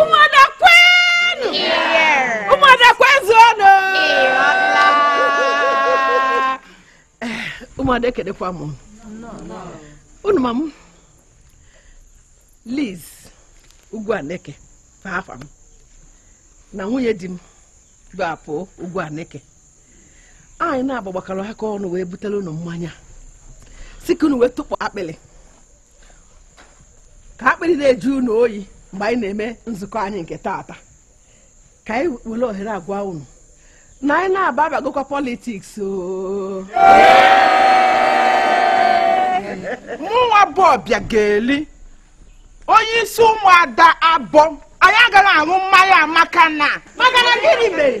ụmụada kwenụ ụmụada kwezuonụ ụmụada ekelekwa m unu ma m Liz ugwu aneke bụ afa m na nwunye di m bụ apụ ugwu aneke anyị naabọ gbakọrọ aka ọnụ wee butere unu mmanya sị ka unu wee tụpụ akpịrị ka akpịrị na-ajụ unu oyi mgbe anyị na-eme nzukọ anyị nke taata ka anyị were ohere agwa unu na anyị naabọ bagokwa politiks mụnwa bụ Ọbịageli onye isi ụmụada Abọ anyị agaghị aṅụ mmanya maka na maka na gịnị mere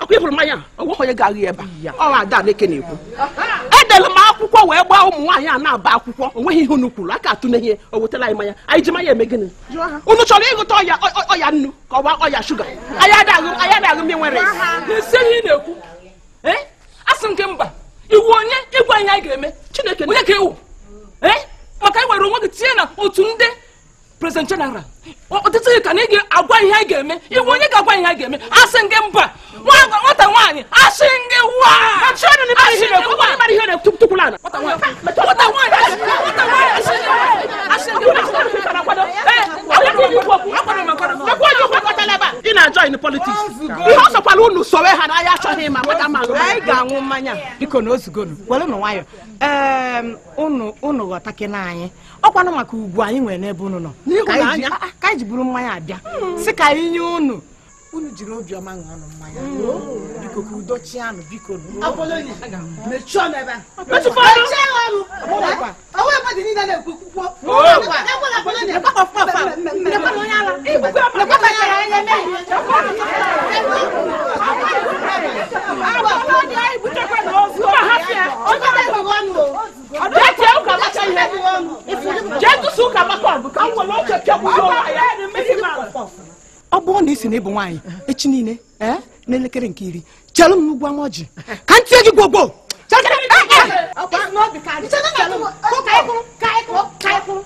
ọkwa ị fụrụ mmanya onweghị onye ga-aṅụ ebe ọ ada aneke na-ekwu edere m akwụkwọ wee gbaa ụmụ nwaanyị a naabọ akwụkwọ onweghị ihe unu kwuru aka atụ n'ihe o wetara anyị mmanya anyị ji mmanya eme gịnị unu chọrọ ibuta ọya ọya nnu ka ọ bụ ọya shuga anyị adaghị anyị adaghị m nwere na-esi ihe ị na-ekwu eh? asị m gị mba ị wụ onye ịgwa anyị anyị ga-eme chineke onye ka ị wụ eh? maka na i were onwe gị tinye n'otu ndị president general ọtụtụ ka na ị ga-agwa ihe a ga-eme ị wụ onye ga-agwa ihe a ga-eme asị gị mba nwata nwaanyị asị gịwa ị na-ajoin politiks ihe ọ sọkwara unu sowe ha n'ahịa achọghị m ịma nweta ma anyị ga-aṅụ mmanya bikonụ ozugonụ werenụ nwayọ unu ghọtakena anyị ọkwanụ maka ugwu anyị nwere n'ebe unu nọ ka anyị ah, ah, ji buru mmanya bịa hmm. sị ka anyị nye unu unu jiri obiọma ṅụọnụ mmanya hmm. oh, biko ka udo chianụ biko onye ọ bụrụ na ị sị na ị bụ nwaanyị echi niile eh, n'elekere nke iri chelụ m n'ugwu ama ọjị ka m tie gị gwogwo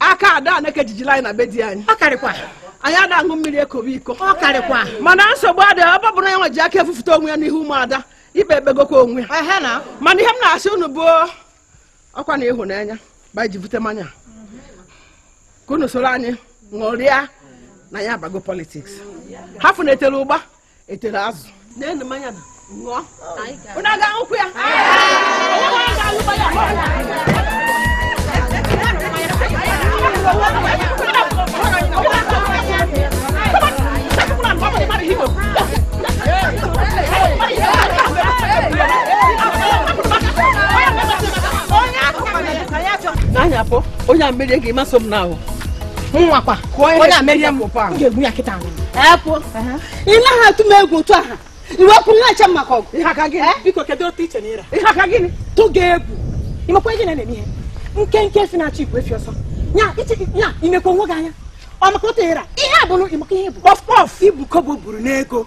aka ada aneke jijila anyị na be di anyị ọ karịkwa anyị ada aṅụ mmiri ekobe iko ọ karịkwa mana nsogbu adịghị ọ bụrụ na ya nwe ji aka bufute onwe ya n'ihu ụmụada ikpe ekpegokwa onwe ya mana ihe m na-asị unu bụ ọkwa na ịhụnanya ba ji bute mmanya ka unu soro anyị ṅụrịa na anyị abago politiks ha fụnetela ụgba etere azụ na-enu mmanya na ṅụọ ụna ga akwụkwọ ya anya pụ onye a merie gị masị m n'ahụ mụnwakwa onye a merie m ga-egbu ya kịta epụ ị naghị atụ m egwu otu aha iwepụ nwa eche maka ọgụ ihe aka gịnị biko kedu otu i che na ị ra ihe aka gịnị tụ gị egwu ị makwa gị na-eme ihe nkenke efi na-achụ igwe efi ọsọ nya i mekwa onwe gị anya ọ maka otu ị ra ihe a bụrụ ị makwa ihe bụ kpọf kpọf i bu kobo buru n'ego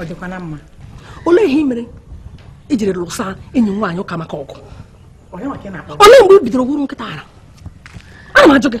ọ dịkwa na mma olee ihe ị mere i jiri lụsa enyi m nwaanyị ụkamaka ọgụ olee mgbe i bidoro wụrụ nkịta ara ana m ajụ gị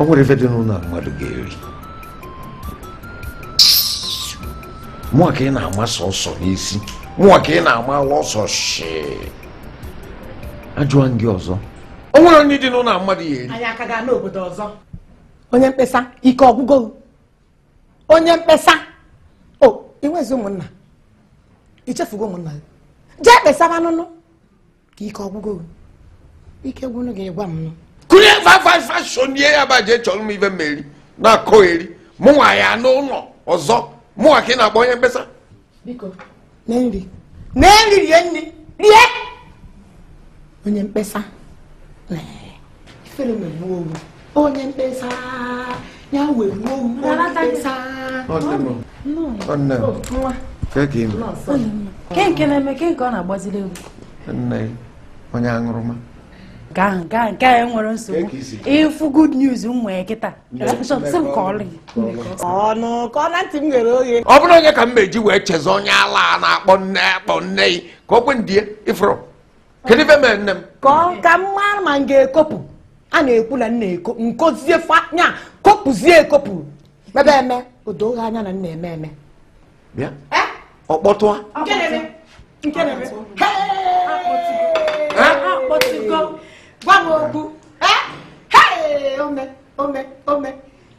ọ nwere ife dị n'ụnọ mmadụ ga-eri mụnwa ka ị na-amasa ọsọ n'isi mụnwa ka ị na-ama ọsọ shee ajụọ gị ọzọ o nwere ife dị n'ụnọ mmadụ ya-eri anyị aka gaa n'obodo ọzọ onye mkpesa ike ọ gwụgo onye mkpesa o i nwezi ụmụnna i chefugo ụmụnna gị jee kpesaba n'ụnọ ka ike ọ gwụgo ike gwụnụ gị gwa m kụnye fafafashon ihe ya baje chọọrọ m ive m ya-eri na-akọyeri mụnwa ya n'ụlọ ọzọ mụnwa ka ị na-akpọ onye mkpesa biko na nri na nri rie nri rie onye mkpesa ifere megbuo wụ onye mkpesa ya megbuo wụ onye mkpesa kee nke na-eme kee nke ọ na-agbaziri egwu nne onye aṅụrụma gaa nke a nke a nwere nsogbu ịfụ good news ụmụ ya kịta ọnụ ka ọ na ntị m ghere oghe ọ bụrụ onye ka m meji wee chezọ onye ala a na-akpọ nne akpọ nne ka o kwe ndie ị fụrụ kedu ife mere nne m kọọ ka m mara ma m ga-ekopụ a na-ekwu na m na-eko m kozie fanya kopụzie ekopụ mebe eme o do gị anya na m na-eme eme bịa ọ kpọtụa nke na-eme nke na-eme akpọtụgo m gwa m okwu ome ome ome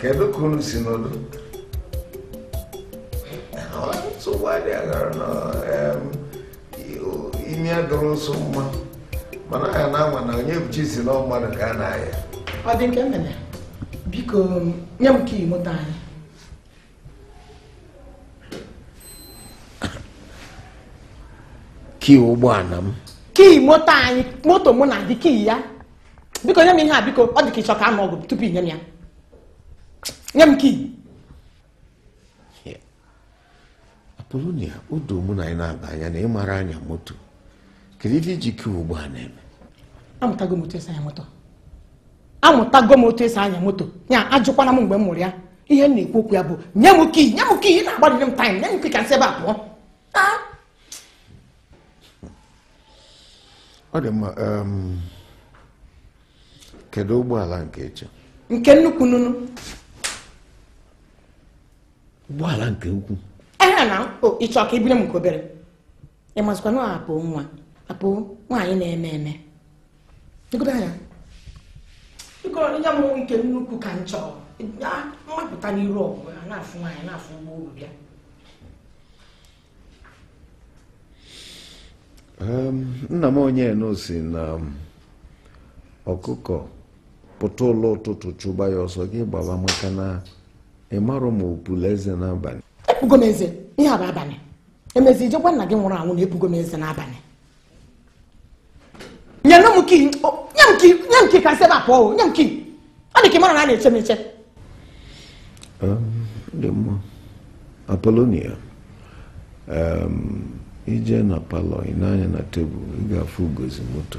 kedu ka unu si n'odo nsogbu adị aghara na imi adọrọ nsọ mma mana ya na anwa na Onyebuchi sị na mmadụ ka a na-ahịa ọ dị nke mere biko nye m kii moto anyị kii ụgbọala m kii moto anyị moto mụ na gị kii ya biko nye m ihe a biko ọ dị ka ị chọ ka a nụ ọgụ tupu i nye m ya nye m kii apolonia o doo mụ na anyị na-aba anya na ị mara anya moto kedu ife i ji kii ugbu a na-eme amụtago m otu esi anya moto amụtago m otu esi anya moto ya ajụkwana m mgbe m mụrụ ya ihe m na-ekwu okwu ya bụ nye m kii nye m kii ị na-agbarụrụ m taịm nye m kii ka m si ebe a pụọ ọ dị mma um, kedu ụgbọala nke ị chọ nke nnukwu nunu ụgbọala nke ukwu ehe na ị chọ ka i bunye m nke obere ị mazikwa na Apo nwa Apo nwaanyị na-eme eme negodo anya biko nye mụ nke nnukwu ka m chọrọ m mapụta n'iru ọgụ na-afụ nwaanyị na-afụ ụgbọ uru bịa Em, nna m onye enu sị na ọkụkọ pụta ụlọ ụtụtụ chụba ya ọsọ gị gbaba maka na ị marọ ma o pula eze n'abalị epugo m eze ihe a bụ abalị emezi i je gwa nna gị nwụrụ anwụ na epugo m eze n'abalị nye nụ m kii nye m kii nye m kii ka m si ebe a pụọ nye m kii ọ dị ka ị marọ na a na-eche m eche dị mma apolonia i je na palọ i nee anya na tebụl ị ga-afụ ugozi moto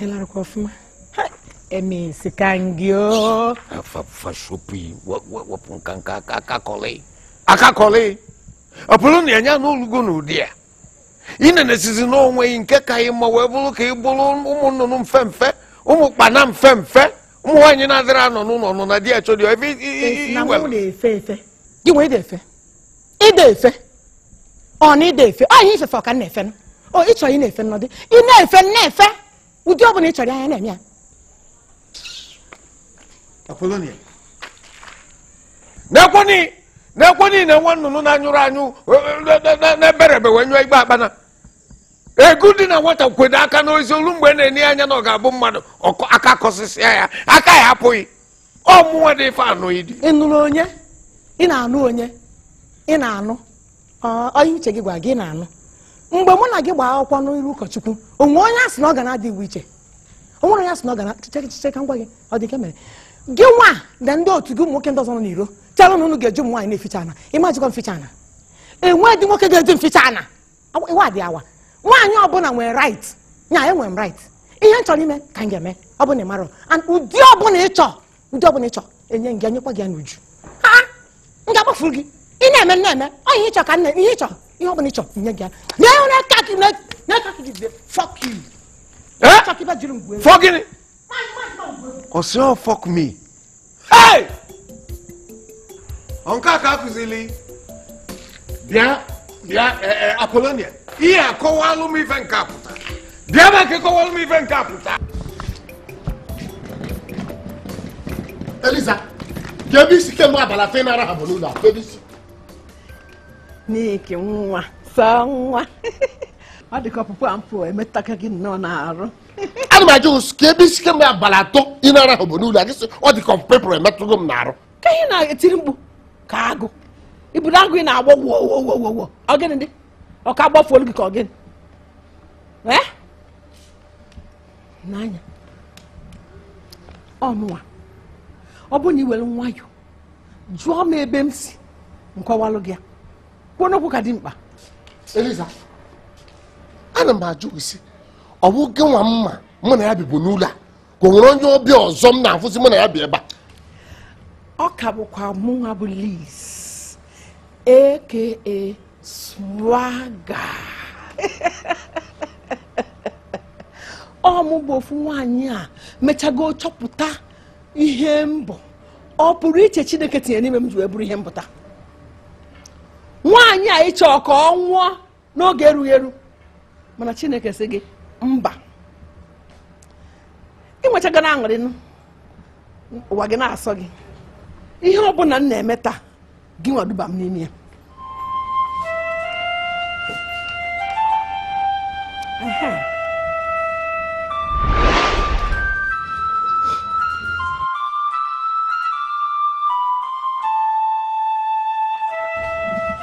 ịlarakwa ọfụma emesi ka ngị o fashopi wepụ nka nka akakọlị akakọlị Apolo nwaanyị nọlugo n'ụnọ di ya ị na-enesizi n'onwe gị nke ka ị ma wee bụrụ ka ị bụrụ ụmụ nnụnụ mfe mfe ụmụ ụkpana mfe mfe ụmụ nwaanyị na-adịrọ anọ n'ụlọ nọ na di ya chọrọ ya ebe i- i- i- i- na mụ iwere. na-efe efe gị wee dị efe ịda efe ọ na ịda efe ọ ihe ifefe ọka na-efe nụ. o ị chọrọ ị na-efe nnọdụ ị na-efe m na-efe ụdị ọ bụla ị chọrọ anya na-eme ya Apolonia. n'ekwoni n'ekwoni na nwa nnụnụ na-anyụrụ anyụ e, e, e, e, na-ebere ebe wee nyụba akpana ego dị na nwata kwedo aka n'ozi olu mgbe na-enye ya anya na ọ ga-abụ mmadụ aka kọsịsịa ya aka ya apụghị ọmụnwa dị ife anụ ịdị ị nụrụ onye ị na-anụ onye ị na-anụ onye uche gị gwara gị na-anụ mgbe mụ na gị gbaa akwụkwọ n'iru ụkọchukwu o nwere onye a sị na ọ ga na-adị iwu iche o nwere onye a sị na ọ ga na chiche ka m gwa gị ọ dị nke mere gị nwa na ndị otu gị ụmụ nwoke ndị ọzọ nọ n'iro chelu na unu ga-eji ụmụ nwaanyị na-eficha ana ị ma-ejikwa m ficha ana enweghị nwoke ga-eji m ficha ana Awa- iwe adị awa nwaanyị ọbụla nwere right nya enwere m right ihe m chọrọ ime ka m ga-eme ọ bụla ị mara and ụdị ọbụla ị chọọ ụdị ọbụla ị chọọ enye m gị enyekwa gị ya n'uju ha m ga-agbafuru gị ị na-eme m na-eme ọ ihe ị chọọ ka m na- ihe ị chọọ ihe ọbụla ị chọọ nye gị ya na ihe na-aka gị na- na-aka gị jide fuck you Eh? Chọọ ka ibe jiri m gwuo egwu. Fuck gịnị? Ọ sị ọ fuck me. nke a ka akụzili bịa bịa e, e, apolonia bịa kọwalụ m ife nke a pụta bịa ma ka kọwalụ m ife nke a pụta eliza kee ebe i si kemgbe abalị atọ ị na-arahụ bụ n'ụlọ a ebe i si n'ike nwa sọ nwa ọ dịka ọpụpụ a m pụ emetaka gị nnọọ n'arụ ana m ajụ gị sị kee ebe i si kemgbe abalị atọ ị na-arahụ bụ n'ụlọ a gị sị ọ dị ka ọpụpụ ị pụrụ emetụgo m n'arụ ka ị na-etiri mkpu ka agụ ị bụrụ agụ ị na-agbọ wowowowowo ọ gịnị dị ọ ka a gbafuolu gị ka ọ gịnị ee nee anya ọnụwa ọ bụ na i were nwayọ jụọ m ebe m si m kọwalụ gị ya kwuo n'okwu ka dị mkpa Eliza ana m ajụ gị sị ọ bụ gị nwa m ma mụ na ya bibu n'ụlọ a ka o nwere onye ọbịa ọzọ m na-afụzi mụ na ya bi ebe a ọ ka bụkwa mụnwa bụ Liz aka swagger ọ mụ bụ ofu nwaanyị a mechago chọpụta ihe m bụ ọpụrụiche Chineke tinyere n'ime m ji wee bụrụ ihe m bụ taa nwaanyị a ị chọ ka ọ nwụọ n'oge erughị eru mana chineke sị gị mba ị nwechaga na-aṅụrị n'ụwa gị na-asọ gị ihe ọ bụla m na-eme taa gị nwa duba m n'ime ya Aha.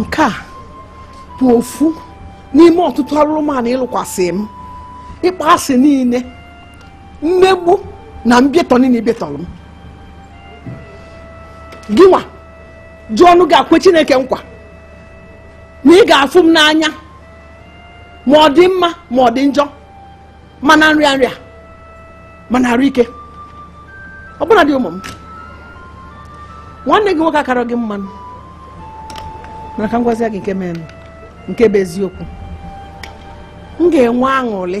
nke a bụ ofu n'ime ọtụtụ arụrụmanụ ị lụkwasị m ịkpọ asị niile mmegbu na mbịatọ niile ị bịatọrọ m gịnwa ji ọnụ gị a kwe chineke nkwa na ị ga-afụ m n'anya ma ọ dị mma ma ọ dị njọ ma na nrịanrịa ma na arụ ike ọbụnadị ụmụ m nwanne gị nwoke akarọ gị mma mana ka m gwazie gị nke mere nke bụ eziokwu m ga-enwe aṅụrị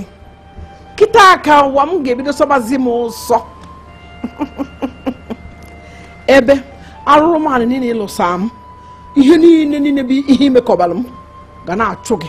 kịtaa ka ụwa m ga-ebido sọbazi m ụsọ ebe arụrụmanụ niile ị lụsa m ihe niile niile bụ ihe i mekọbara m ga na-achụ gị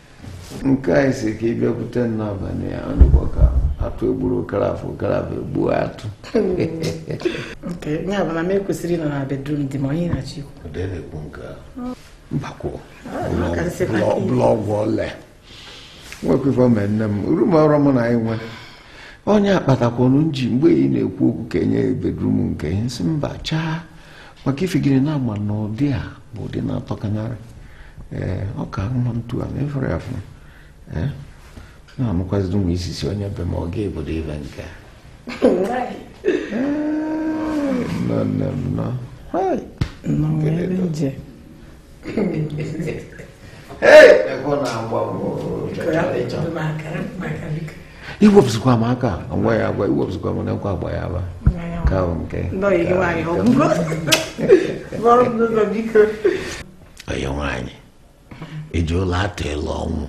nke anyị si ka ị bịakwute n'abalị a ọ dịkwa ka atụ egburo okorafọ okorafọ egbuo atụ ya bụ na m ekwesịrị ịnọ na bedroom dị ma onye na-achọ ikwu mbakwụ blọọgwụ ole nwekwefọ mee nne m room ọrụ m na anyị nwe onye akpatakwanụ nji mgbe ị na-ekwu okwu ka enye bedroom nke ihe nsị mba chaa maka ifegide na-agba na ụdị a bụ ụdị na-atọkanarị ee ọ ka mma ntu a mefere ya fụ ee na-anụkwaziri ụmụ isisi onye be ma ọ ga-ebido ibe nke nọ nọ nọ i wepụsịkwa m aka agwa ya agwa i wepụsịkwa m n'ekwe agba ya aba ka ahụ nke onye nwaanyị eji ụla atụle ọnwụ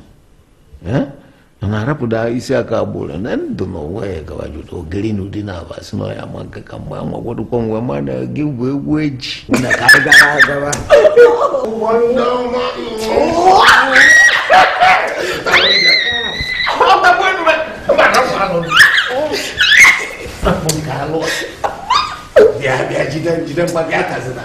ọ na-arapụda isi aka agbụrụ na ndụ na onwe ya gabajụta ogiri na ụdị na-aba si na ọya ma nke ka mgbe anwa gwadụkwa nwe ma na gị bụ egwu eji na ka anyị gara agaba bịa bịa jide jide mgba bịa tazina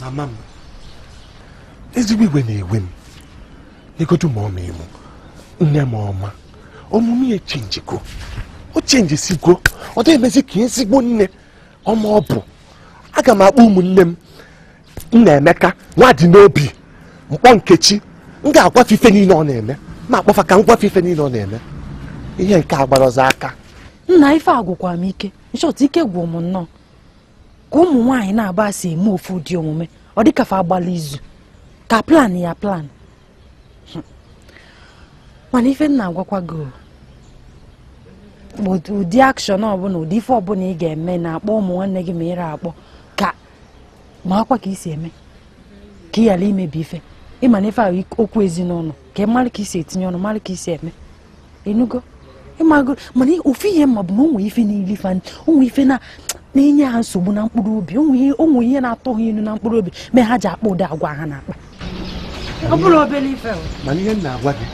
mama m ezigbo iwe na-ewe m negodu mama mụ nne m ọma omume ya chenjigo o chenjisigo ọ dịghị emezi ka ezigbo nne ọma ọ bụ aga m akpọ ụmụnne m nnaemeka nwadịnobi m kpọọ nkechi m ga-agwa fa ife niile ọ na-eme m akpọ fa ka m gwa fa ife niile ọ na-eme ihe nke a gbara ọzọ aka nna ife agwụkwa m ike in short ike gwụ m nnọọ ka ụmụ nwaanyị naabọ si eme ofu ụdị omume ọ dịka fa agbala izu ka plan ya plan hmm. mana ife m na-agwakwa gị ụdị action ọbụla ụdị ife ọbụla ị ga-eme na-akpọ ụmụ nwanne gị ma ịra akpọ ka marakwa ka i si eme ka ị ghara imebi ife ị ma na ife a bụ okwu ezinụlọ ka ị mara ka i si etinye ọnụ mara ka i si eme ị nụgo ị mago mana ofu ihe m ma bụ na o nwe ife na-eli fa o nwe ife na na-enye ha nsogbu na mkpụrụ obi o nwe ihe na-atọ ha ilu na mkpụrụ obi mee ha ji akpa ụdị agwa ha na-akpa ọ bụrọ obere ife mana ihe m na-agwa gị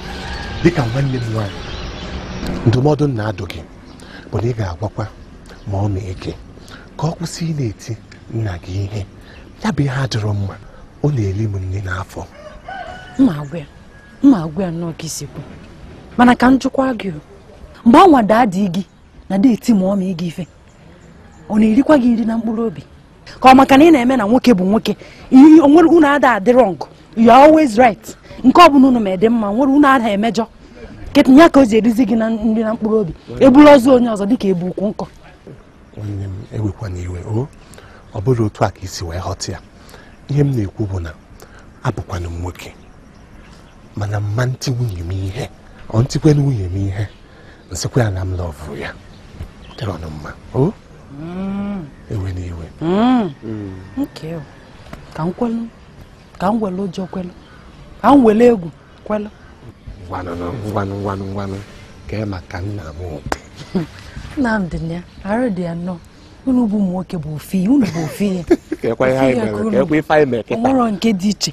dịka nwanne m nwaanyị ndụmọdụ m na-adụ gị bụ na ị ga-agwakwa mama gị ka ọ kwụsị ịna-eti nna gị ihe ya bụ ihe adịrọ mma ọ na-eli m nri n'afọ m ma agwa ya m ma agwa ya nnọọ ka i si kwu mana ka m jụkwa gị mgbe anwa daddy gị na-adị eti mama gị ife ọ na-erikwa gị nri na mkpụrụ obi ka ọ maka na ị na-eme na nwoke bụ nwoke ihe onwere unu ada adị wrong you are always right nke ọ bụla unu mee dị mma nwere unu ada emejọ kịtaa ka o ji erizi gị nri na mkpụrụ obi e bulu ozu onye ọzọ dịka e bu ukwu nkụ nwanne m ewekwana iwe o ọ bụrụ otu a ka i si wee ghọta ya ihe m na-ekwu bụ na abụkwanụ m nwoke mana m ma eti nwunye m ihe o m tikwanụ nwunye m ihe m sịkwa ya na m love ya ọ dịrọnụ mma o mm. ewena iwe mm. Mm. ka m kwelu ka m were ụjọ kwelu ka m were egwu kwelụ ngwanụ ngwanụ ngwanụ ngwanụ ka ị maka nna m Nnamdị na ya arụ dị ya nnọọ unu bụ ụmụ nwoke bụ ofu ihe unu bụ ofu ihe ka ekwe ihe anyị mere ka ekwe ife anyị mere kịta o nwerọ nke dị iche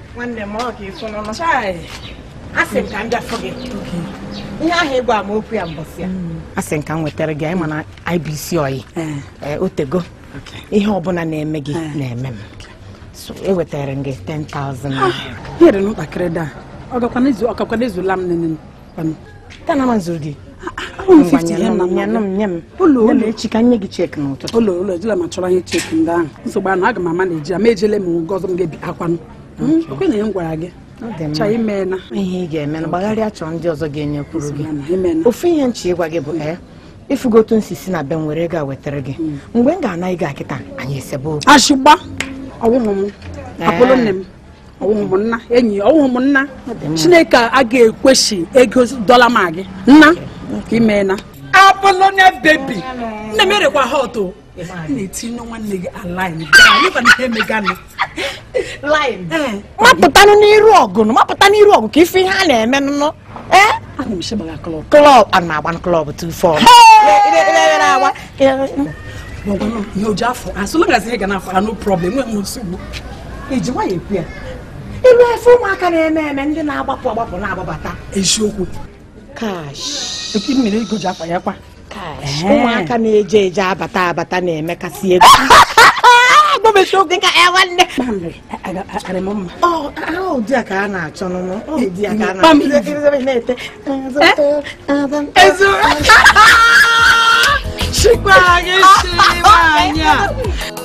nwanne m ọ ka ịtụ n'ọnụ a sị m ka m bịa fụ gị ihe ahụ ị gwa m okwu ya mbọsị a hmm. a sị m ka m wetara gị ya ị ma na ị bụ isi ọyị eh. Eh, o tego ihe ọbụla na-eme gị eh. na-eme m ewetara m gị 10,000 naira. Ah, ihe dị m mkpa karịrị ya ọ gakwanụ ezulu m nene echi ka nye gị cheki n'ụtụtụ ụlọ ụlọ ejila ma chọrọ anyị cheki ndị ahụ nsogbu anụ aga m ama na eji ama ejele m gọzọ m ga-ebi akwanụ hmm? okwe na ihe m gwara gị ihe ị ga-eme na gbagharịa chọọ ndị ọzọ ga-enyekwuru gị ofu ihe m chọ ịgwa gị bụ ee eh, ị fụgo otu m si si na be m were ga wetara gị hmm. mgbe m ga-ana gị ya kịta anyị esebe okwu ashịgba ọwụhụ m eh. apụlụ nne m ọwụhụ nna enyi ọwụhụ nna chineke a ga-ekwesị ego dollar ma gị nna ka imeela Apolonia baby nne m erekwa ha ọtụ na-etinye nwanne gị line mapụtanụ n'iru ọgụ mapụta n'iru ọgụ ka ị fụ ihe a na-eme nụnụ club a na-agba club 24 ihe o ji afọ asụ magazi ihe ga na afara no problem nwe m nsogbu i ji nwayọ ekwu ya ilu efe ụmụaka na-eme eme ndị na-agbapụ agbapụ na-agbabata eziokwu cash eke mmiri ego ji afa ya kwa ụmụaka na-eje eje abata abata na-emekasị ego Chikwa gị si nwaanyị a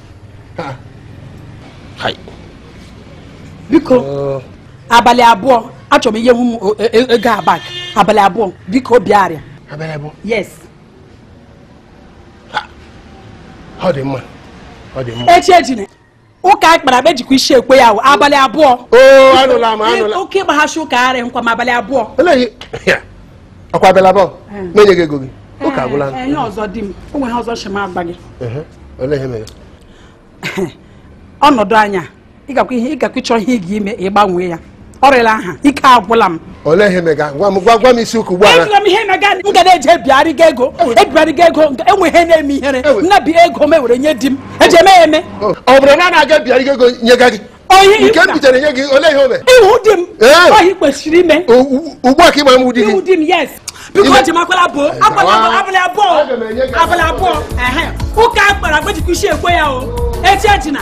biko oh. abalị abụọ achọrọ m ihe hụ m e, e, ego abak abalị abụọ biko bịa arịa abalị abụọ yes ọ dị mma ọ dị mma echi ejine ụka a kpara akpa e jikwa isi ekwe ya abalị abụọ oh, okay gbaghachi ụka arị nkwa m abalị abụọ ọ kwa abalị abụọ m enye gị ego gị ụka agwụla enye ọzọ di m o nwere ọzọ shima agba gị olee ihe mere ọnọdụ anya ịgakwa ihe ịgakwa ịchọ ihe ị ga-ime ịgbanwee ya ọrịla aha ike agwụla m olee ihe mega gwa m gwa m isi ụkwụ ụgbọala ejila m ihe mega m ga na-eji ebigharịga ego ebigharịga ego e nwe ihe na-eme ihere m na-ebi ego m ewere nye di m eji eme ya eme ọ bụrụ na a na-aga ebigharịga ego nyega gị nke m bitere nye gị olee ihe o mere ị wụ di m ọ ihe i kwesịrị ime ugbu a ka ị ma m di gị ị wụ di m yes biko o ji m akwala abụọ akwala abalị abụọ abalị abụọ ụka a kpara akpa e jikwa isi ekwe ya o echi ejina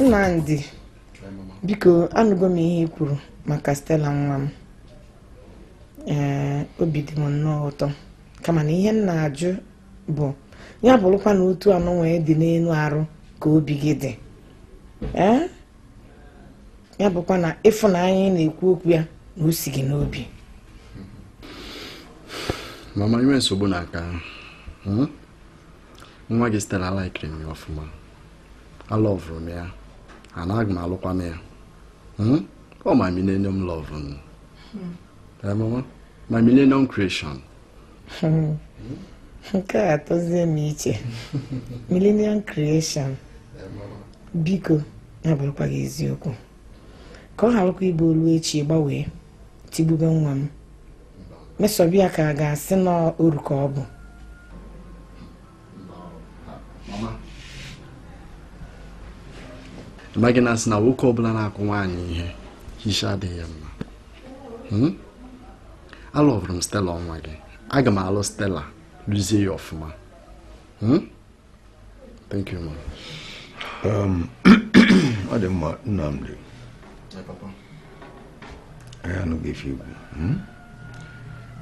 Nnamdi biko anụgo m ihe i kwuru maka Stella nwa m ee obi dị m nnọọ ụtọ kama na ihe m na-ajụ bụ ya bụrụkwa na otu anụ nwee dị n'elu arụ ka obi gị dị ee ya bụkwa na ịfụnanya na-ekwu okwu ya na o si gị n'obi mama enwe nsogbu na aka hmm? nwa gị Stella alaikiri m ọfụma alụvụrụ m ya ana aga m alụkwanụ ya hmm? o my millennium love m hmm. my millennium creation hmm. nke a atọzie m iche millennium creation biko na-abụrụkwa gị eziokwu ka ọ gharakwa ịbụ o lue echi gbanwee tigbube nwa m mesobe ya ka a ga-asị na oru ka ọ bụ ị maghị na a sị na nwoke ọbụla na-akụ nwaanyị ihe isi adịghị ya mma hmm? alụbụrụ m stela ọnwa gị aga m alụ stela lụzie ya ọfụma hmm? thank you ma um, ọ dị mma Nnamdi anyị anụgo ife i kwu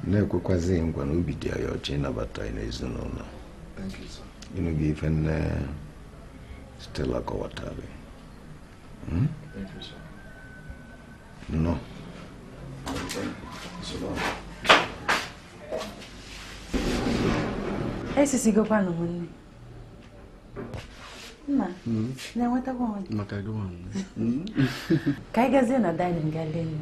na-ekwekwazi nkwa na obi dị anyị ọcha ịnabata gị n'ezinụlọ ị nụgo ife nne Stella kọwatara hmm? nnọọ esisigokwanụ m nni nna hmm? na-enwetakwa onwe hmm? ka anyị gazie na dining gaa lie nni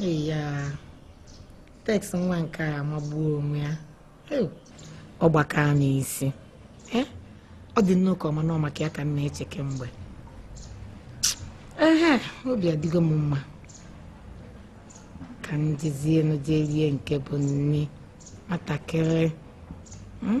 ya teks nwa nke a amagbuo onwe ya ọ gbakaa m isi eh? ọ dị nnọọ ka ọ ma na ọ maka ya ka m na-eche kemgbe ehe obi adịgo m mma ka m jezie enu jee rie nke bụ nri nwatakịrị hmm?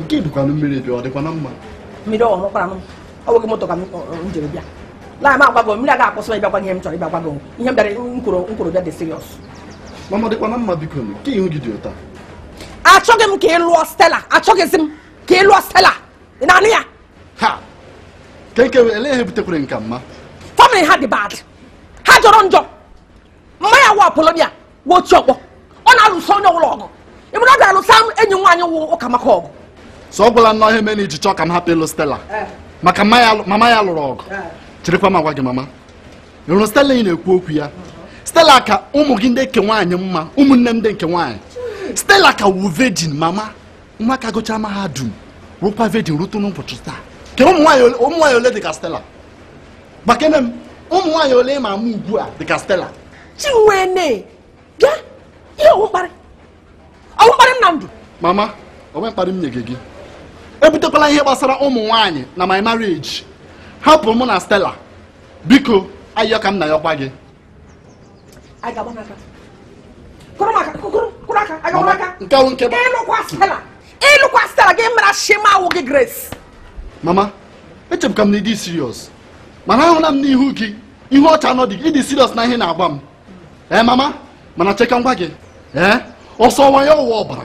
nke bụkwanụ mmiri bịa ọ dịkwa na mma mmiri ọ nwekwara m ọ nweghị moto ka m jere bịa laa m agwago mmiri aga akwụsị ịbịakwa ihe m chọrọ ịbịa gwa gị ihe m bịara nkwuru nkwuru bịa dị serious mama ọ dịkwa na mma biko nke ihu gị dị otu a achọghị m ka ị lụọ stela achọghịzi m ka ị lụọ stela ị na-anụ ya ha kenke ele ihe butekwara nke a mma family ha dị bad ha jọrọ njọ mama ya wụ Polonia wụ oti ọkpọ ọ na-alụso onye ọbụla ọgụ ịmụrụ ọ ga-alụsa enyi nwaanyị wụ ụka maka ọgụ so ọ gwụla nnọọ ihe mere i ji chọọ ka m hapụ ịlụ stela eh. maka mama ya lụrụ ọgụ eh. cherekwa m gwa gị mama ị hụrụ stela ị na-ekwu okwu ya stela ka ụmụ gị ndị nke nwaanyị mma ụmụnne m ndị nke nwaanyị stela ka wụ virgin mama nwa ka gụchaa mahadum wụrụkwa virgin rute n'ụbọchị taa kee ụmụ nwaanyị ole dị ka stela gwakene m ụmụ nwaanyị ole ị ma ama ugbu a dịka stela chinwene bịa ihe ọ wụ mkparị ọ wụ mkparị m na ndụ mama o nwe mkparị m nye gị ebutekwala ihe gbasara ụmụ nwaanyị na my marriage hapụ mụ na stela biko ayịyọ ka m na-ayọkwa gị anyị ga-agba n'aka kụrụ maka kụrụ kụrụ aka anyị ga-agba n'aka nke ahụ nke ị lụkwa stela ị lụkwa stela gị mara shị m awụghị grace mama echekwa m na ị dị serious mana ahụla m n'ihu gị ihu ọcha na ọ dị ị dị serious na ihe ị na-agwa m ee mama mana chee ka m gwa gị ee ọ sọwa ya ọ wa ọbara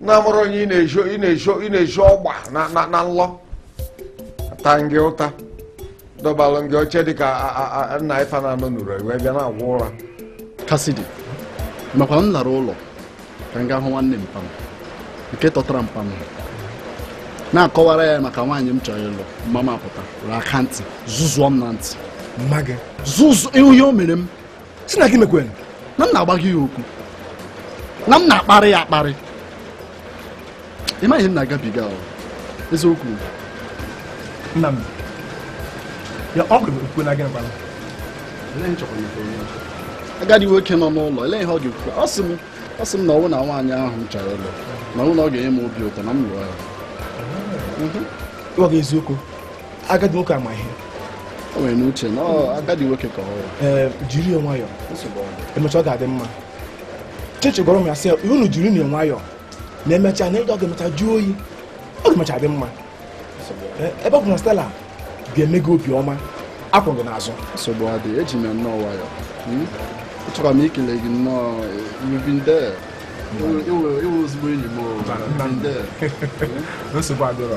na-amụrụ onye ị na-ezo ị na-ezo ị na-ezo ọgba na na na nlọ ata gị ụta dọbalụ gị oche dị ka a- a- a- nna ife na-anọ n'ụra wee bịa na-agwọ ụra kasidi ị makwa na m lara ụlọ ka m gaa hụ nwanne mpa m nke tọtara mpa m na-akọwara ya maka nwaanyị m chọrọ ịlụ mma m apụta were aka ntị zụzụọ m na ntị mma gị zụzụ ihe o mere m sị na gị mekwere na m na-agbagha ya okwu na m na-akparị ya akparị ị maghị ihe m na-agabiga ahụ eziokwu nna m ya ọ gụrụ okwu na gị nkwala agadi nwoke nọ n'ụlọ elee ihe ọ ga-ekwu ọ sị m ọ sị m na ọ wụ na nwaanyị ahụ m chọrọ ịlụ na ọ wụ na ọ ga-enye m obi ụtọ na m lụọ ya ịgwa gị eziokwu agadi nwoke a ma ihe o nwere n'uche na agadi nwoke ka ọ ee jiri ya nwayọọ emecha ọ ga-adị mma chichi gwara m ya sị unu jirinụ nwayọọ na emechaa na ọ ga-emecha jụọ oyi ọ ga-emecha dị mma ebe ọ bụ na stela ga-eme gị obi ọma akwụ m gị n'azụ nsogbu adị eji m nnọọ nwayọọ hmm? achọrọ m ikele gị nnọọ irubinde ị wụ ezigbo enyi m nsogbu adịrọ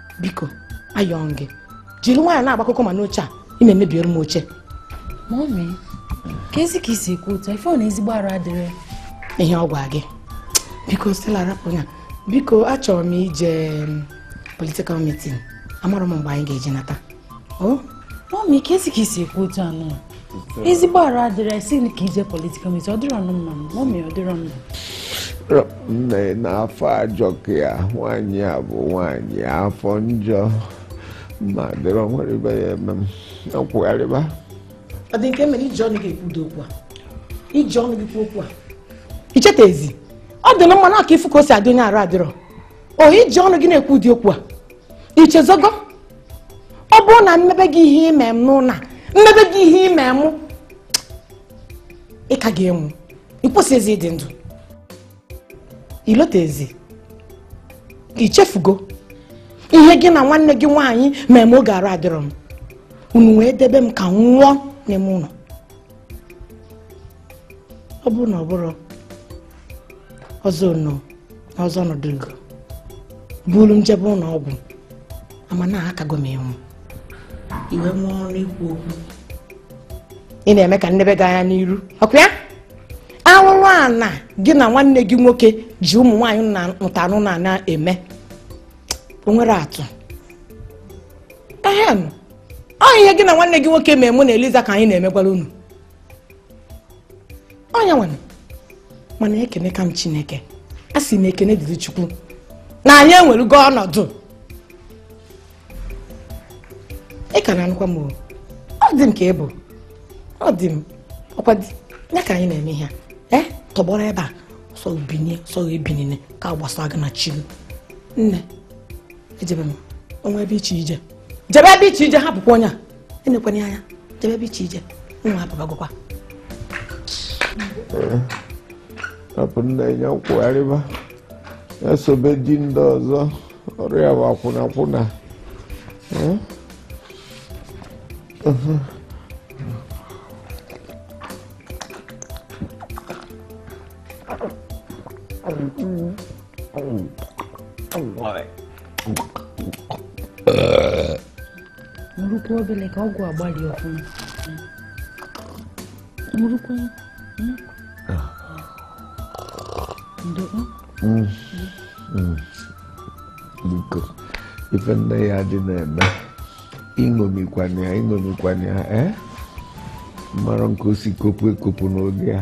biko ayọọ m gị jiri nwayọọ na-agba kokoma n'oche a ị na-emebiere m oche mọmi kezi ka i si ekwu otu ife ọ na ezigbo arụ adịrọ ihe ọ gwa gị biko stela rapụ ya biko achọrọ m ije mm, political meeting amarọ m mgbe anyị ga-eji nata o mọmi kezi ka i si ekwu otu anụ ezigbo arụ adịrọ ị sị ka i je political meeting ọ dịrọnụ mma ọ mee ọ dịrọ mma nne na afọ ajọka ya nwaanyị a bụ nwaanyị afọ njọ ma dịrọ nwere ibe ya eme m akwụgharịba ọ dị nke mere i ji ọnụ gị ekwu ụdị okwu a i ji ọnụ gị kwuo okwu a i chetazi ọdịnma nwa a ka ị fụ ka o si adị onye arụ adịrọ o i ji ọnụ gị na-ekwu ụdị okwu a i chezọgo ọ bụrụ na m mebe gị ihe i me m nna m mebe gị ihe i me m ị ka ga-enwu ịkwụsị ezi ịdị ndụ ilota ezi i chefugo ihe gị na nwanne gị nwaanyị mee m oge arụ adịrọ m unu wee debe m ka m nwụọ n'ime ụlọ ọ bụrụ na ọ bụrụ ọzọ nọ n'ọzọ ọnọdụ ego buru m jebe ụlọ ọgwụ ama na akago m ịnwụ i wee nwee ọnụ ikwu okwu ị na-eme ka m nebe gị anya n'iru ọkwa arụrụ ala gị na nwanne gị nwoke ji ụmụ nwaanyị na ntanụ na na-eme o nwere atụ ehem ọ ihe gị na nwanne gị nwoke mee mụ na Eliza ka anyị na-emegwara unu onye nwere mana ekene ka m chineke asị m ekene dịrị chukwu na anyị enwerugo ọnọdụ ị ka na-anụkwa m ọ dị m ka ị bụ ọ dị m ọkwa ya ka anyị na-eme ihe e tọgbọrọ ebe a sọ binie sọ binie ka ọ gbasa gị na chi gị nne jebe o nwee ebe ị chọ ije jebe ebe ị chọ ije hapụkwa onye a enekwana ya anya jebe ebe ị chọ ije mụwa apụbagokwa hapụ nna ya kwụgharịba ya sobe di ndị ọzọ ọrụ ya bụ akwụnakwụna ṅụrụkwa obere ka ọgwụ agbalị ọfụma ṅụrụkwa hmm? ah. ndokwa hmm. hmm. biko ife nna ya dị na-eme ịṅomikwana ya ịṅomikwana ya ee eh? mara nke o si kopu ekopu n'oge ya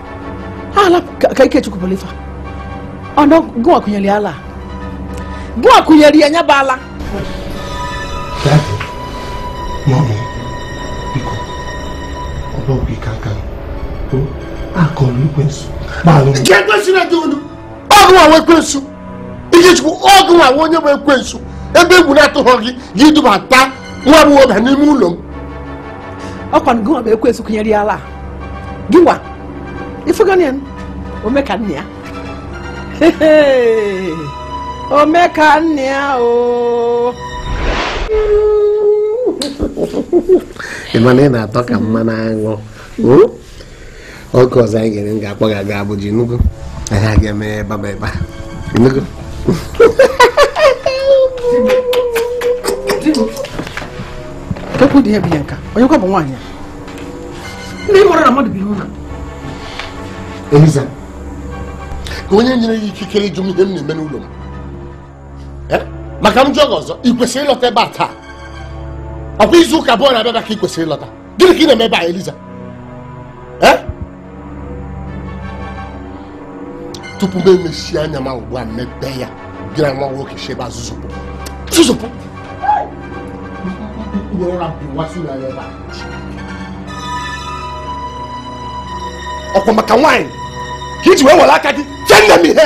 ala ka ikechukwu bụrụ ife ọ na gụwa kụnyere ya ala gụwa kụnyere ya nya bụ ala mummy biko ọ bụ ọgwụ ike aka ọrụ ekwensu nke ekwensu adị unu ọ gụnwa ekwensu ikechukwu ọ gụnwa onye bụ ekwensu ebe egwu na-atụghọ gị gị dubata nwa m nwoke n'ime ụlọ m ọkwa na gụwa bụ ekwensu kụnyere ya ala gịnwa ifugonu ya ome ka nna ya ome ka nna ya o ị ma na ị na-atọ ka mmanụ aṅụ hmm? oge ọzọ anyị ga-ere m ga-akpọ gị aga Abuja Enugu anyị aga eme ebe ma ebe nnukwu okwu dị ya bụ ihe nka onye kwa bụ nwaanyị ndị mụrụ na mmadụ bụ ihe ụna eliza ka onye nyere ya ikikere ịjụ m ihe m na-eme n'ụlọ m eh? ma ka m jụọ gị ọzọ ị kwesịrị ịlọta ebe a taa ọkwa izu ụka abụọ na-abịa ka ị kwesịrị ịlọta gịnị ka ị na-eme ebe a eliza tupu m emesie anya m abụọ mepe ya gị na nwa nwoke si ebe a zuzupụ zuzupụ ọkwa maka nwaanyị ka iji wee were aka gị kee nne m ihe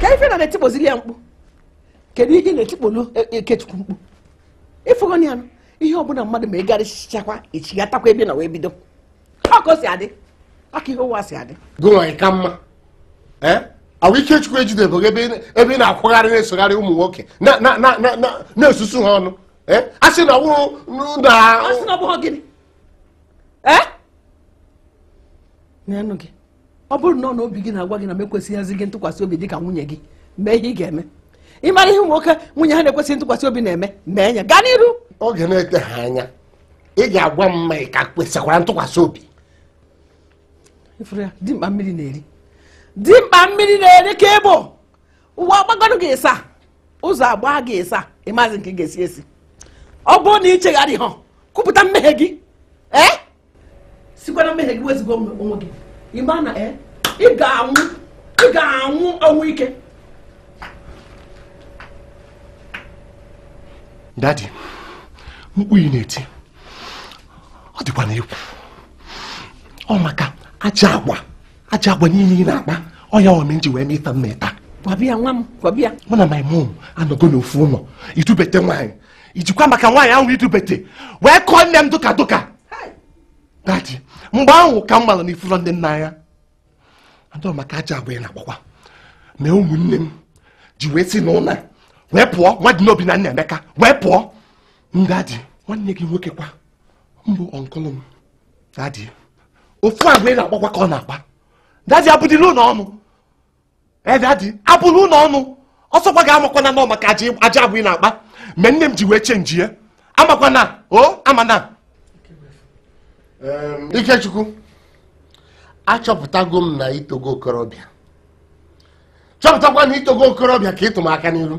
ka ife ị na-etikpozili ya mkpu kedu ihe na-etikpolu e, e, ikechukwu mkpu ịfụgonụ ya ihe ọbụla mmadụ ma ịgarịchakwa echigatakwa ebe na wee bido ọkụ si adị aka ihe ụwa si adị gụnwaanyị ka mma ee eh? ahụ ikechukwu ejidebeghị ebe ị na-akwagharị na-esogharị ụmụ nwoke na-esusu ha ọnụ eh? a sị na ọ bụ a sị na ọ bụ gịnị eh? na-enụ gị ọ bụrụ na ọ na obi gị na-agwa gị na m ekwesịghịzi gị ntụkwasị obi dị ka nwunye gị mee ihe ị ga-eme ị mara ihe nwoke nwunye ha na-ekwesịghị ntụkwasị obi na-eme mee ya gaa n'iru oge na-eteghị anya ị ga-agwa m ma ị ka kwesịkwara ntụkwasị obi ifuru ya dimkpa mmiri na-eri dimkpa mmiri na-eri ka ị bụ ụwa agbagoro gị ịsaa ụzọ agbaa gị ịsaa ịmazị nke ị ga-esi esi ọ bụrụ na ị chegharịghị kwupụta mmehie gị ee sikwa na mmehie gị wezụga onwe gị ịma na e, ị ga-anwụ ị ga-anwụ ọnwụ ike dadi mkpu ị na-eti ọ dịkwanụ egwu ọ maka ajọ agwa ajọ agwa niile ị na-akpa ọ ya mee m ji wee mịta mma ịta gwabịa nwa m gwabịa mụ na my mom anọgo n'ofu ụlọ idubete nwaanyị ijikwa maka nwaanyị ahụ idubete wee kụọ nne m dụka dụka dadi mgbe ahụ ka m mara na ifurọ nne m n'anya dad maka ajọ agwa ị na-akpakwa mee ụmụnne m ji wee si n'ụlọ wee pụọ dadi Obinna Nnaemeka wee pụọ dadi nwanne gị nwoke kwanụ bụ ọnkụlụ m dadi ofu agwa ị na-akpakwa ka ọ na-akpa dadi abụdịla ụlọ ọnụ ee dadi abụla ụlọ ọnụ ọsọkwa gị amakwana n'ọ maka ajọ agwa ị na-akpa mere nne m ji wee chenjie amakwana o amana ikechukwu achọpụtago m na itogo okorobịa chọpụtago na itogo okorobịa ka ịtụ m aka n'iru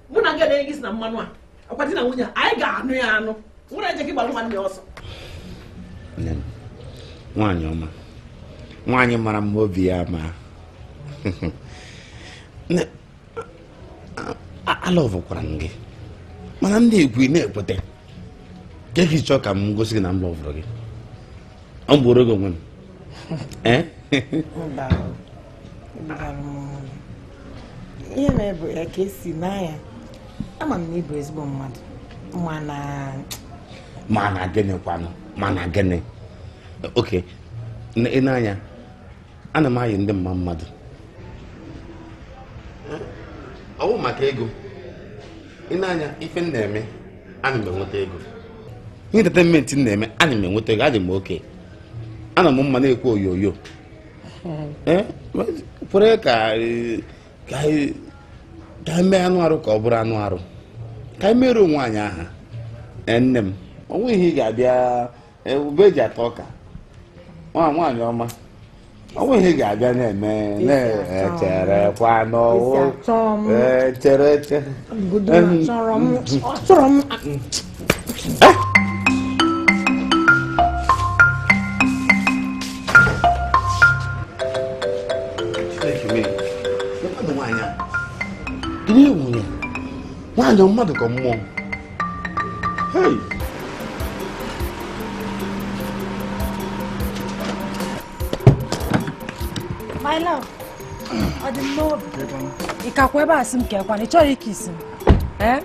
mụ na gị edenye gị si na mmanụ a akwa di na nwunye anyị ga-anụ ya anụ nwere eje gị gbara nwanne ya ọsọ nwaanyị ọma nwaanyị mara mma obi ya ma alọvụkwara m gị mana ndị ekwu na-ekweta kee ka ị chọọ ka m gosi gị na m lọvụrụ gị ọ m gbuoro gị onwe m eh? ihe mere bụ ya ka esi n'anya ama m na ịbụ ezigbo mmadụ mana mana gịnị kwanụ mana gịnị oke ị na-anya ana m ayị ndị mma mmadụ ọwụ maka ego ị na-anya ife m na-eme ana m enweta ego ihe entertainment m na-eme ana m enweta ego adị m okay ana m mma na-ekwu oyoyo eh, kwere ka ka anyị mee anụ arụ ka ọ bụrụ anụ arụ ka anyị mere onwe anyị aha eh, nne m ọ wụ ihe ị ga-abịa ube eji ata ọka nwa nwaanyị ọma ọ bụ ihe ga-abịa na-eme m cherekwa n'ọwụ chere eche chọrọ m nwaanyị mmadụ ka mmụọ My love, ọ dị m n'obi. Ị kakwa ebe a sị m ka ekwana, ị chọrọ ike isi m. Eh?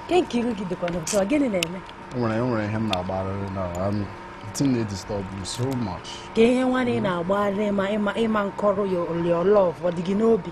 Ke nke iru gị dịkwa n'ụtọ, gịnị na-eme? O nwere o nwere ihe m na-agbarịrị na um, thing dey disturb me so much. Ke ihe nwa na ị na-agbarịrị ma ịma ịma nkọrọ ya your love ọ dị gị n'obi.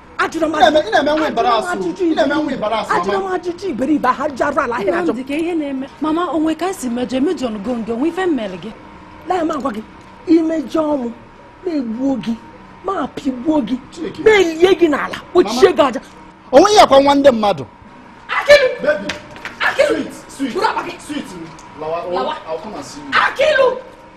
ajụrụ m ajụjụ ị na-eme nwa ịbara asụ ajụjụ ị na-eme nwa ịbara asụ ajụrụ mama ajụjụ iberibe ha ji arụ ala ahịrị ajụ Nnamdi ke ihe na-eme mama o nwe ka e si mejọ emejọ nụgo nge o nwe ife m mere gị lee m agwa gị imejọọ m m egbuo gị m apịgbuo gị Chike. m elie gị n'ala kpochie gị aja o nweghị akwa nwa ndị mmadụ Akilu! baby Akilu! sweet sweet Buru akpa gị! sweet lawa Lawa. I'll come and see you Akilu!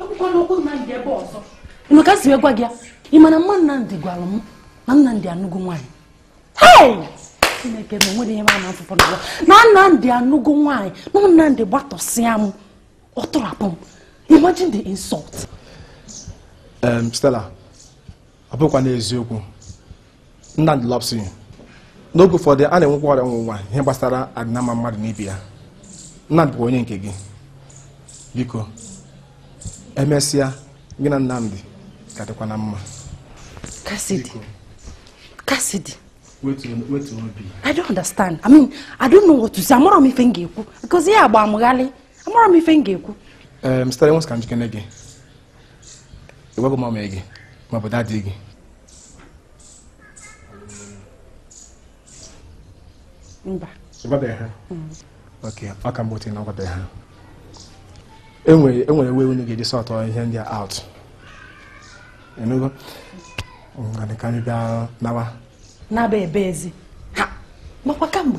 ekwukwana okwu Nnamdị ebe a ọzọ ị nụ ka m si gwa gị ya ị ma na mama Nnamdị gwara m na Nnamdị anụgo nwaanyị chineke na o nwere ihe ma na-afụpụ n'ụwa na Nnamdị anụgo nwaanyị na Nnamdị gbatọsịa m ọ tụrapụ m imagine the insult Stella ọ bụkwa n'eziokwu Nnamdi loves you n'oge ụfọdụ a na-enwekwa ọnwụnwa ihe gbasara ọdịnamma mmadụ na ibe ya Nnamdi bụ onye nke gị biko emesịa gị na Nnamdi ga-adịkwa na mma Cassidy Cassidy wetu obi I don't understand I mean I don't know what to say amarọ m ife m ga-ekwu because ihe a gba mụ gharịị amarọ m ife m ga-ekwu ee eh, mstara enwes ka njikere gị ị gwago mọmị gị ma ọ bụ dadị gị mba ị gwabeghị ha ok ọ ka better na ị gwabeghị ha e nwere e nwere way unu ga-eji sort ihe ndị a out ị nụgo ngwanụ ka anyị bịa nawa n'aba ebe ezi ha makwa kamgbe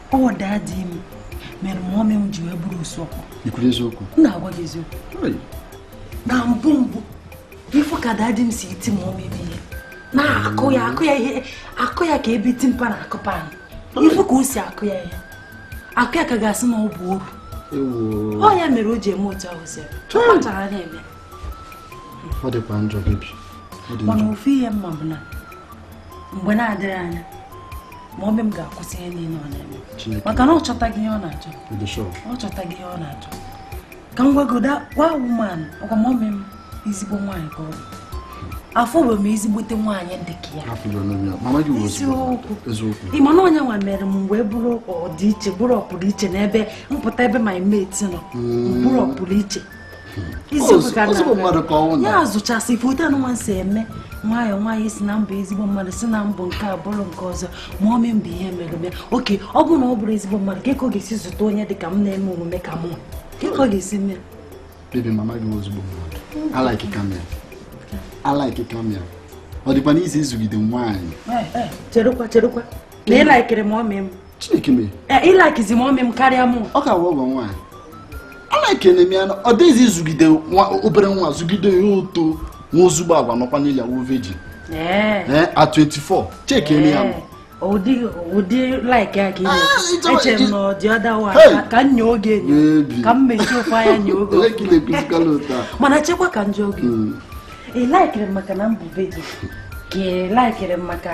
ọ dadi m mere mọmị m ji wee bụrụ otu ọ bụ i kwuru eziokwu m na-agwa gị eziokwu na mbụ mbụ ị fụ ka dadi m si eti mọmị m ihe na-akụ ya akụ ya ihe akụ ya ka ebe tinker na-akụ pan ị fụ ka o si akụ ya ihe akụ ya ka a ga-asị na ọ bụ oru ọ ya mere o ji eme otu ahụ si ọ kpachara anya eme ọ dịkwa njọ bebi mana ofu ihe m ma bụ na mgbe na-adịghị anya mọmị m ga-akwụsị ihe niile ọ na-eme maka na ọ chọtaghị ihe ọ na-achọ ọ chọtaghị ihe ọ na-achọ ka m gwagodu gị ị manụkwa mọmị m ezigbo nwaanyị ka ọ bụ afụbeghị m ezigbote nwaanyị dị ka ya ị ma na ọ ya nwa mere m wee bụrụ ọdịiche bụrụ ọpụrụ iche n'ebe m pụta ebe my mate nọ mm. bụrụ ọpụrụ iche ya zụchasị ị fụ etu mụ nwa si eme nwayọọ nwayọọ sị na m bụ ezigbo mmadụ sị na m bụ nke a bụrụ nke ọzọ mọmị m bụ ihe mere ya oke ọ bụrụ na ọ bụrọ ezigbo mmadụ kee ka ọ ga-esi zụta onye dị ka m na-eme omume ka mụ kee ka ọ ga-esi mee bebi mama gị ọ ezigbo mmadụ alaikika m ya alaikika m ya ọ dịkwanụ easy ịzụgide nwaanyị cherekwa cherekwa na ị laikiri mọmị m Chineke mee. Eh, ị laikizi mọmị m karịa mụ. Ọ ka wụ ọgọ nwaanyị. A laikene m ya na ọ dịghị easy ịzụgide obere nwa zụgide ya o too nwee ezigbo agwa nọkwa n'ile awụ virgin. Eh. Eh, at 24 chekienụ ya ụdị ụdị laik a ka ah, eche m na ọ dị ọda wa ka m nye oge ka m mechie ofu anya nye oge mana chekwa ka m jụọ gị hmm. ị laikiri m maka na m bụ vejin ka ị laikiri m maka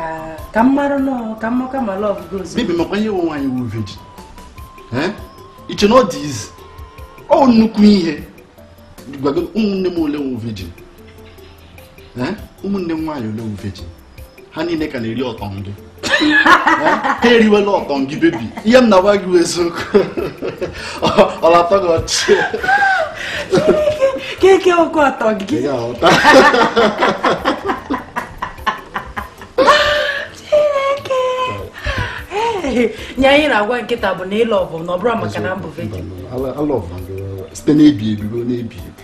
ka m mara nọọ ka m maka ma lọv gị ozugbo bebi makwa ihe wu nwaanyị wu vejin ị che na ọ dị izi ọ nnukwu ihe gwago ụmụnne m ole wu vejin ụmụnne m nwaanyị ole wu vejin ha niile ka na-eri ọtọ gị ha eriwela ọtọ gị bebi ihe m na-agwa gị eziokwu ọ na-atọ gị ọchị keke ọkụ ọtọ gị nye anyị na-agwa nkịta bụ na ịlọ ọgụ na ọ bụrụ maka na m bụ vejin site n'ebi ebi ruo n'ebi ebi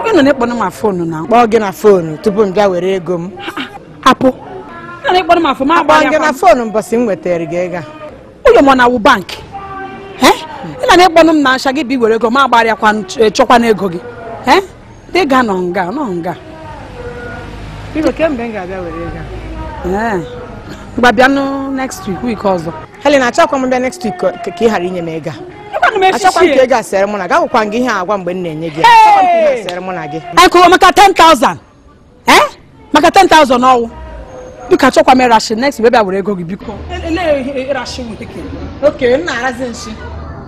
oge nọ na-ekpọnụ m na fonu na-akpọ gị na fonu tupu m bịa were ego m apụ nọ na-ekpọnụ m na fonu ma gị na fonu mbọsị m wetara gị ego ụlọ m na wụ bankị ị na na-ekpọnụ m na ncha gị bụ iwere ego m agbarịakwa e, chọkwa na ego gị dị ga-anọ nga nọ nga kemgbe m ga-abịa were ego m ga-abịanụ next week week ọzọ Helen achọkwa m bịa next week ka ka ị ghara inye m ego a. Ekwanụ m achọkwa m ka echichi. ego a sere mụ na gị agwakwa m gị ihe a agwa mgbe m na-enye gị ya. Achọkwa m ka ihe a sere mụ na gị Anyị kụrụ maka 10,000. Eh? Maka 10,000 ọ wụ. Biko achọkwa m ịra nshi next week bịa were ego gị biko. oke m na-arazi nshi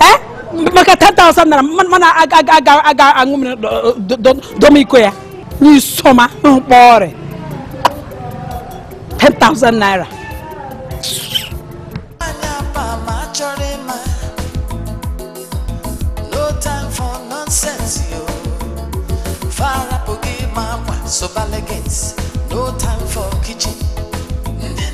Eh? maka 10,000 naira mana a ga-aṅụ mmiri doma iko ya n'isoma mkpọ ọrịa 10,000 naira Sobalege